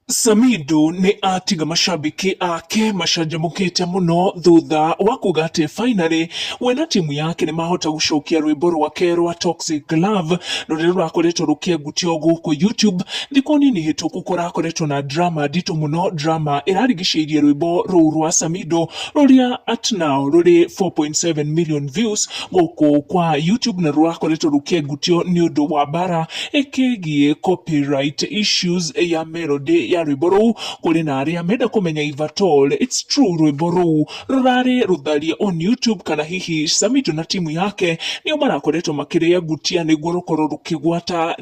Samido nĩ atiga macambĩki ake macanjamũkĩte mũno thutha wa kuga atĩ finally we na timu yake nĩ mahota gũcokia rwĩmbo rwake rwa Toxic Love rũrĩa rũrakoretwo rũkĩengutio gũkũ YouTube. Thikũ nini hĩtũku kũrakoretwo na drama nditũ mũno, drama ĩrarigicĩirie rwĩmbo rũu rwa Samido rũrĩa at now rũrĩ 4.7 million views. gũkũ kwa YouTube na rũrakoretwo rũkĩengutio nĩ ũndũ wa mbara ĩkĩgiĩ copyright issues ya melody ya rwĩmbo rũu kũrĩ na arĩa menda kũmenya if at all it's true rwĩmbo rũu rũrarĩ rũtharie on YouTube kana hihi Samido na timu yake nĩo marakoretwo makĩrĩengutia nĩguo rũkorwo rũkĩgwata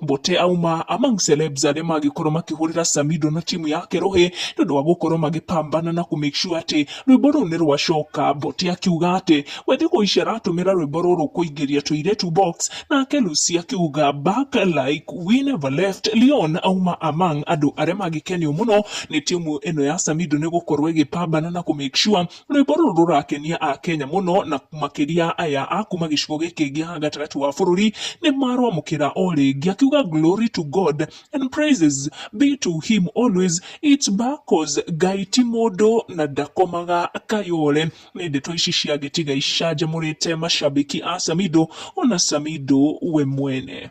Mbote auma among celebs arĩa mangĩkorwo makĩhũrĩra Samido na timu yake rũhĩ nĩ ũndũ wa gũkorwo magĩpambana na kũ make sure atĩ rwĩmbo rũu nĩ rwacoka. Mbote akiuga atĩ we thikũ ici aratũmĩra rwĩmbo rũrũ kũingĩria tũirĩtu box, nake Lucy akiuga back like we never left. Leon auma among andũ arĩa mangĩkenio mũno nĩ timu ĩno ya Samido nĩ gũkorwo ĩgĩpambana na kũ make sure Rwĩmbo rũrũ rũrakenia Akenya mũno na makĩria aya a kuma gĩcigo gĩkĩ gĩa gatagatĩ wa bũrũri nĩ marwamũkĩra o rĩngĩ akiuga glory to God and praises be to him always it's back cause Ngai ti mũndũ na ndakomaga kayole. Nĩ ndeto ici cia Gĩtiga icanjamũrĩte macambĩki a Samido ona Samido we mwene.